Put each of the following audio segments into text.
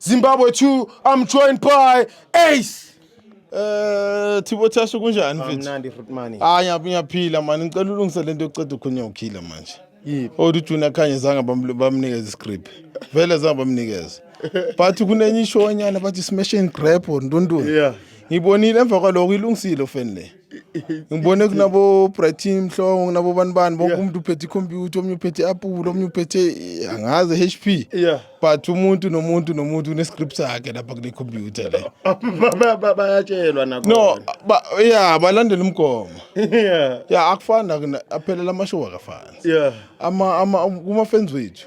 Zimbabwe 2 I'm joined by Ace. Eh Thibo Thashu kunjani mfethu? Amnandi fruit money. Hayi ah, ngiyaphila mani ngicela ulungise lento yokuceda ukhonya ukhila manje. Yiphi? Odu oh, Junior Khanye zanga bamnikeza iscript. Vele zanga bamnikeza. But kunenye ishow nyana bathi smash and grab or ndundulu. Yeah. Ngibonile emva kwaloko ilungisile ofeni le. ngibone kunabo-brightin mhlongo kunabobani bani bonke umuntu uphethe ikhompyutha omunye uphethe i-apula omunye uphethe angazi h p but umuntu nomuntu nomuntu une-script sakhe lapha kule khompyutha le bayatshelwa no ya balandela umgomo ya akufani aphelela amashow akafani kuma-fans wethu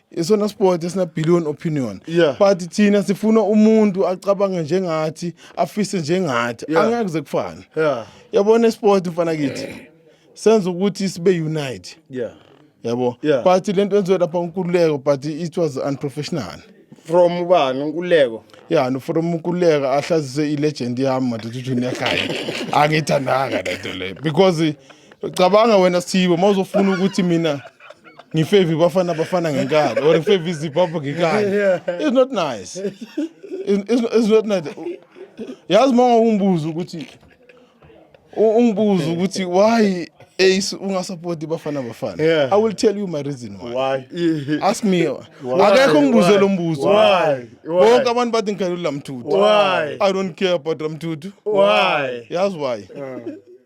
isona sport esina billion opinion yeah. but thina sifuna umuntu acabange njengathi afise njengathi yeah. angeke kuze kufane yeah. yabona isport mfana kithi senza ukuthi sibe unite yeah. yabo yeah. but lento enziwe lapha unkululeko but it was unprofessional from ubani unkululeko ya no from unkululeko ahlazise i-legend yami madoda ujunior khaya angiyithandanga lento leyo because cabanga wena sithibo uma uzofuna ukuthi mina ngifave ibafana bafana ngenkani or ngifave izibhabha ngenkani it's not nice it's, it's, it's not nice yazi uma ungumbuzo ukuthi ungibuza ukuthi why ace ungasapoti bafana bafana yeah. i will tell you my reason why, why? ask me akekho ngibuze lo mbuzo bonke abantu bathi ngikhalula mthuthu i don't care about mthuthu yazi why, why? Uh.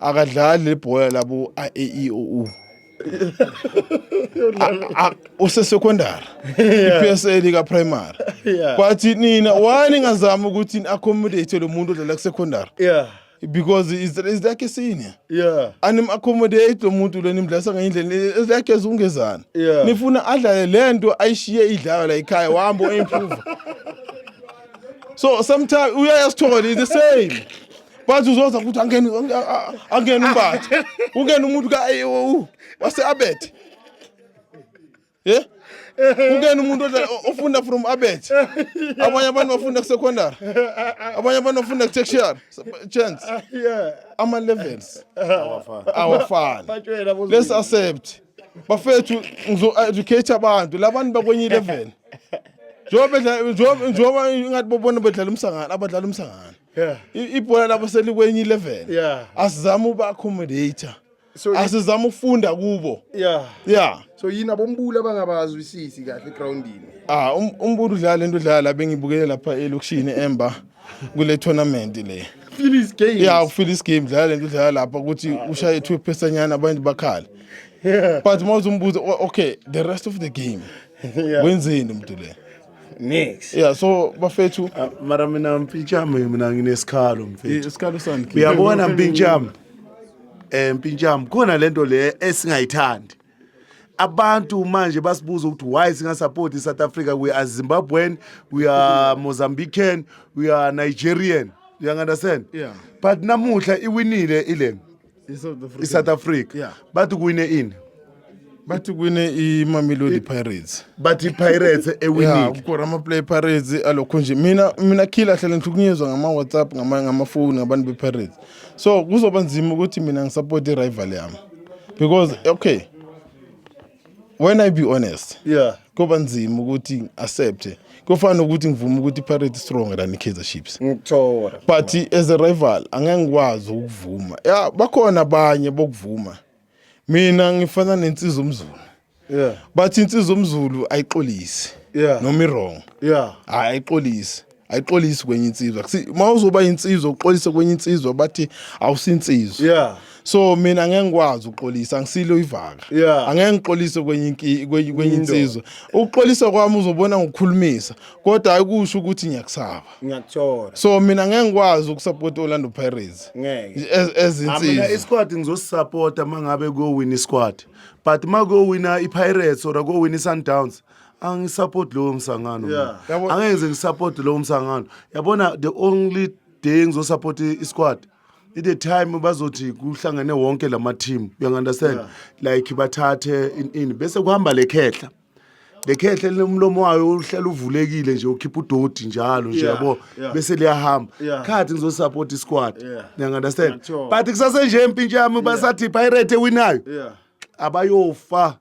akadlali lebhola labo a-e-i-o-u usesekondari i-psl ikaprimary kwathi nina why ningazama ukuthi ni-accommodate lo muntu odlala kusekhondari yeah because is is like a senior yeah anim accommodate lo muntu lo nimdlasa ngenye indlela is like as ungezana yeah nifuna adlale lento ayishiye idlala la ekhaya wambo improve so sometimes uyayasithola is the same bathi uzoza ukuthi angene angene umbathe ungena umuntu ka wase abet ye ungena umuntu ofunda from abet abanye abantu bafunda kusecondary abanye abantu bafunda kutertiary chance ama levels awafani let's accept bafethu ngizo educate abantu labantu bakwenye level njengoba njengoba ingathi bobona bedlala umsangano abadlala umsangano yeah. ibhola labo selikwenye ilevel yeah. asizama uba accommodator so, asizama ukufunda kubo yeah. yeah. so yini abombulu abangabazwisisi kahle egroundini ah, um, umbulu udlala into udlala la bengibukele lapha elokishini emba kule tournament le feel his game yeah ufeel his game dlala lento dlala lapha ukuthi ah, ushaye two pesanyana abantu bakhala yeah but mawuzumbuza okay the rest of the game yeah. wenzeni umuntu le Nix. Yeah so bafethu uh, mara mina mpinchama mina nginesikhalo mfethu. Isikhalo sani? Uyabona mpinchama. Eh mpinchama khona lento le esingayithandi. abantu manje basibuza ukuthi why singasupport i-south africa we are zimbabwean we are mozambican we are nigerian you understand yeah. but namuhla iwinile ilena i-south africa yeah. bathi kuwine ini bathi kuwine i-mamelodi pirates bathi i-pirates ewinile ukora amaplay pirates alokho nje mina mina khila hlale ngihlukunyezwa ngama-whatsapp ngamafoni ngabantu be-pirates so kuzoba nzima ukuthi mina ngisupport i-rival yami because okay when i be honest yeah kuba nzima ukuthi accept kufana ukuthi ngivume ukuthi iPirates stronger than iKaizer Chiefs ngithola but as a rival angeke ngikwazi ukuvuma ya bakhona abanye bokuvuma mina ngifana nensizwa umzulu yeah but insizwa umzulu ayixolisi yeah noma iwrong yeah ayixolisi ayixolisi kwenye insizwa uma uzoba insizwa uxolise kwenye insizwa bathi awusinsizwa yeah so mina ngeke ngikwazi ukuxolisa angisilo ivaka yeah. angeke ngixolise kwenye kwenye insizwa ukuxolisa kwami uzobona ngokukhulumisa kodwa ayikusho ukuthi ngiyakusaba ngiyakuthola so mina ngeke ngikwazi ukusupport Orlando Pirates ngeke ezinsizwa mina isquad ngizosupporta mangabe kuyowina isquad but makuyowina iPirates or kuyowina iSundowns angisupport lowo msangano mina. Yeah. Yabo- angeke ngize ngisupport lowo msangano yabona the only day ngizosupport i- isquad i- the time bazothi kuhlangene wonke lama team you understand like bathathe in- ini bese kuhamba le khehla le khehla lomlomo wayo uhlala uvulekile nje ukhipha udoti njalo nje Yeah, yabo yeah. bese liyahamba Yeah. khathi ngizosupport isquad Yeah. you understand Ngiyathola. but kusase nje empintsha yami basathi pirate ewinayo Yeah. abayofa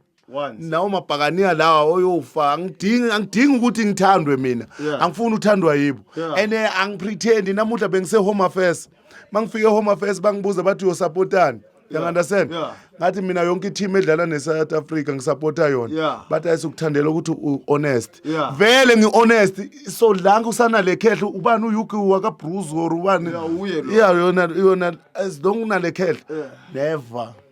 nawo mabhakaniya lawa oyofa angidingi angidingi ukuthi ngithandwe mina yeah. angifuni uthandwa yibo yeah. and eh, angipretend namuhla bengise home affairs mangifike home affairs bangibuza bathi uyosapotani yeah. understand yeah. ngathi mina yonke i-team edlala ne-south africa ngisapota yona yeah. but ayisukuthandela ukuthi u-honest yeah. vele ngi-honest so langa usanale khehle ubani uyuki wakabruce or ubani yeah, yona as long unale khehle yeah. never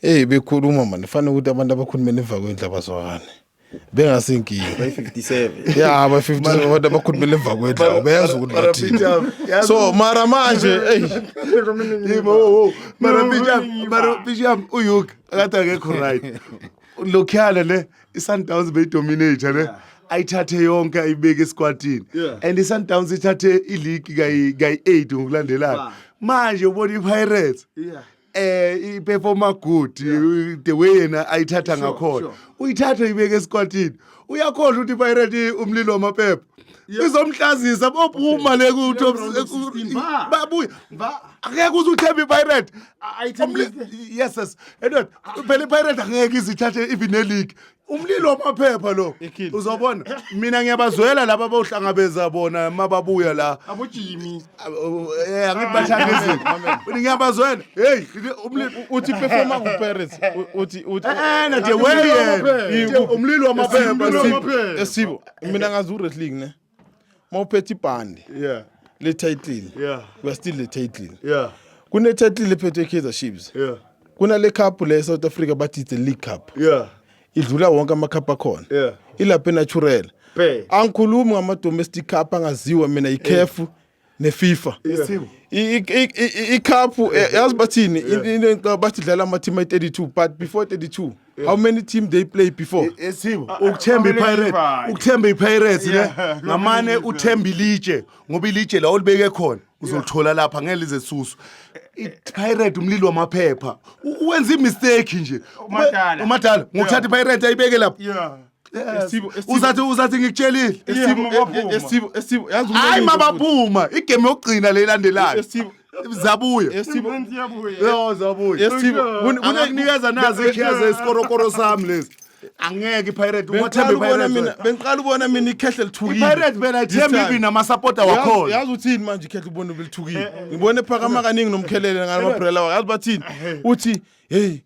Hey bekhuluma manje fanele ukuthi abantu abakhulumela emva kwendlu abazwakani. Bengasinkingi. By 57. Yeah, by 57 abantu abakhulumela emva kwendlu abayazi ukuthi bathini. So mara manje hey Yebo, mara Bijam, mara Bijam uyuk akathi akekho right. Lokhiyana le iSundowns beyidominate ne. ayithathe yonke ayibeke esikwatini yeah. and i-sundowns ithathe iligi kayi-eight ngokulandelana manje ubona i-pirates yeah. eh iperforma good yeah. the way yena ayithatha ngakhona sure, sure. uyithathe ibeke esikwatini uyakhohlwa ukuthi pirate umlilo wamaphepha izomhlazisa bophuma le ku top babuya akekho uze uthembe ipirate yes yes and phela ipirate angeke izithathe even neleague umlilo wamaphepha lo Ekhini. uzobona mina ngiyabazwela laba bawuhlangabeza bona mababuya la abojimi eh angibathanda izinto ngiyabazwela hey umlilo uthi performa kuparis U- uthi uthi eh na the way eh, umlilo wamaphepha Umlilo lo. wamaphepha. esibo mina ngazi uwrestling ne mawuphethe ibhande yeah le title yeah we are still the title yeah kune title ephethwe Kaizer Chiefs yeah kunale cup le South Africa bathi the league cup yeah idlula wonke ama cup akhona yeah ilapha natural angikhulumi ngama domestic cup angaziwa mina ikhefu neFifa icup eh, yazi bathini into bathi dlala ama team ay32 but before 32 how many team they play before esibo uh, uh, ukuthemba ipirates ukuthemba ipirates ne ngamane uthemba ilitshe ngoba ilitshe la olibeke khona uzolithola lapha ngeke lize susu ipirate umlilo wamaphepha wenza imistake nje umadala ngokuthatha ipirate ayibeke lapha uzathi uzathi ngikutshelile hayi mabaphuma igame yokugcina le ilandelayo zabuya kunikeza nazi ikhiya zesikorokoro sami lezi angeke ipirate uwathembe ipirate bengiqala ubona mina ikhehle lithukile ipirate bena ithemba ibi namasapota wakhona yazi uthini manje ikhehle ubona ubelithukile eh, eh, ngibone phakama eh, kaningi nomkhelele ngalamabrela wakhe yazi bathini uthi hey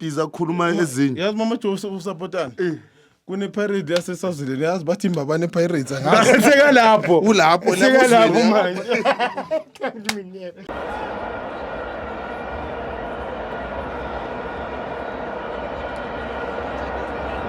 iza kukhuluma ezinye yazi mama joe usapotani Eh. kunepirate yasesazuleni yazi bathi imbaba nepirates angazi seka lapho Ulapho, seka lapho lapho uzwile. manje